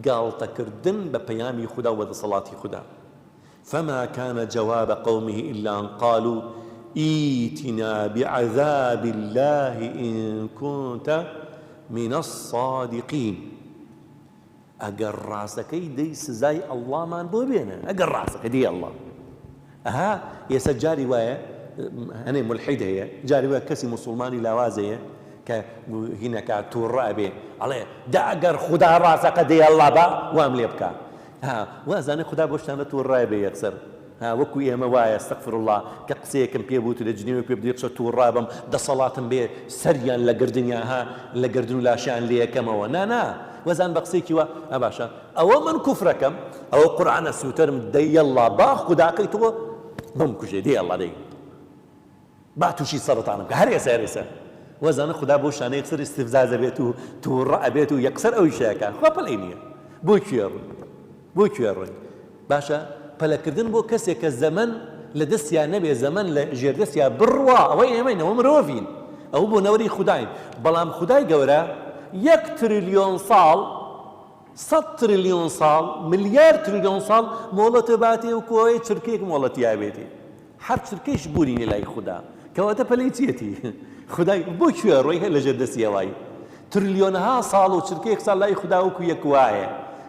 گاڵتە کردن بە پەیامی خودا و دەسەڵاتی خودا فما کان جواب قومه الا ان قالو ئیتنا بعذاب اللە ان کونت من الصادقین ئەگەر ڕاستەکەی دەی سزای اللە مان بۆ بێنە ئەگەر ڕاستەکەی دەی اللە ئەها ئێسە جاری وایە هەنێ مولحید هەیە جاری وایە کەسی موسوڵمانی لاواز هەیە کە هینەکە تووڕە ئەبێ ئەڵێ دا ئەگەر خودا ڕاستەکە دێ ئەڵڵا با وام لێ بکە ها وازانێ خودا بۆ شتانە تووڕای بێ یەکسەر ها وەکو ئێمە وایە استغفراللە کە قسەیەکم پێ بوت لە جنێوێک پێ بدی قسە تووڕا بم دەسەڵاتم بێ سەریان لە گردنیان ها لە گردن و لاشیان لێ یەکەمەوە نا نا وەزان بە قسەیەکی وا ها باشە ئەوە من کوفرەکەم ئەوە قورعانە سوتەرم دەی یەڵڵا با خوداکەی تۆ بمکوژێ دەی یەڵڵا دەی با تووشی سەرەتانم بکە هەر ئێستا هەر ئێستا وەزانە خدا بۆ شانە یەکسەر استفزاز ئەبێت و تووڕە ئەبێت و یەکسەر ئەوی شەیەکە خوا پەلەی نییە بۆ کوێ ڕووی بۆ کوێ ڕووی باشە پەلەکردن بۆ کەسێک کە زەمن لە دەستیان نەبێ زەمن لە ژێردەستیا بڕوا ئەوەی ئێمەین ئەوە مرۆڤین ئەو بۆ نەوەری خوداین بەڵام خودای گەورە یەک تریلیۆن ساڵ سەد تریلیۆن ساڵ، ملیار تریلیۆن ساڵ مۆڵەتە باتێ و کۆیە چرکەیەک مۆڵەتیا بێتێ. هەر چرکەیش بوونینە لای خودا. کەواتە پەلەی چیەتی؟ خودای بۆ کوێ ڕۆی هەر لە ژێر دەستی ئەوای؟ تریلیۆنها ساڵ و چرکەیەک ساڵ لای خودا وەکوو یەک وایە.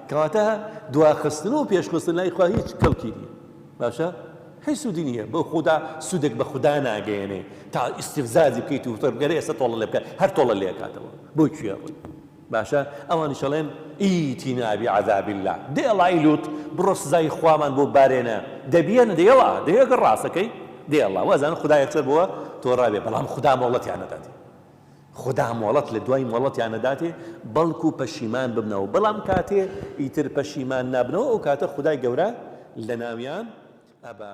کەواتە دواخستن و پێشخستن لای خوا هیچ کەڵکی نییە. باشە؟ هیچ سوودی نییە. بۆ خودا سوودێک بە خودا ناگەیەنێ. تا ئیستیفزازی بکەیت و وتت گەر ئێستا تۆڵە لێ بکە هەر تۆڵە لێ ئەکاتەوە. بۆ کوێ ڕۆی؟ باشە ئەوانیش ئەڵێن ئیتینا بعذاب اللە دەی ئەڵای لوط بڕۆ سزای خوامان بۆ بارێنە دەبیەنە دەی ئەڵا دەی ئەگەر ڕاستەکەی دەی ئەڵا وازانە خودا یەکسەر بۆوە تۆراوێ بەڵام خودا مۆڵەتیان نەداتێ خودا مۆڵەت لە دوای مۆڵەتیان نەداتێ بەڵکو پەشیمان ببنەوە بەڵام کاتێ ئیتر پەشیمان نابنەوە ئەو کاتە خدای گەورە لە ناویان ئەبا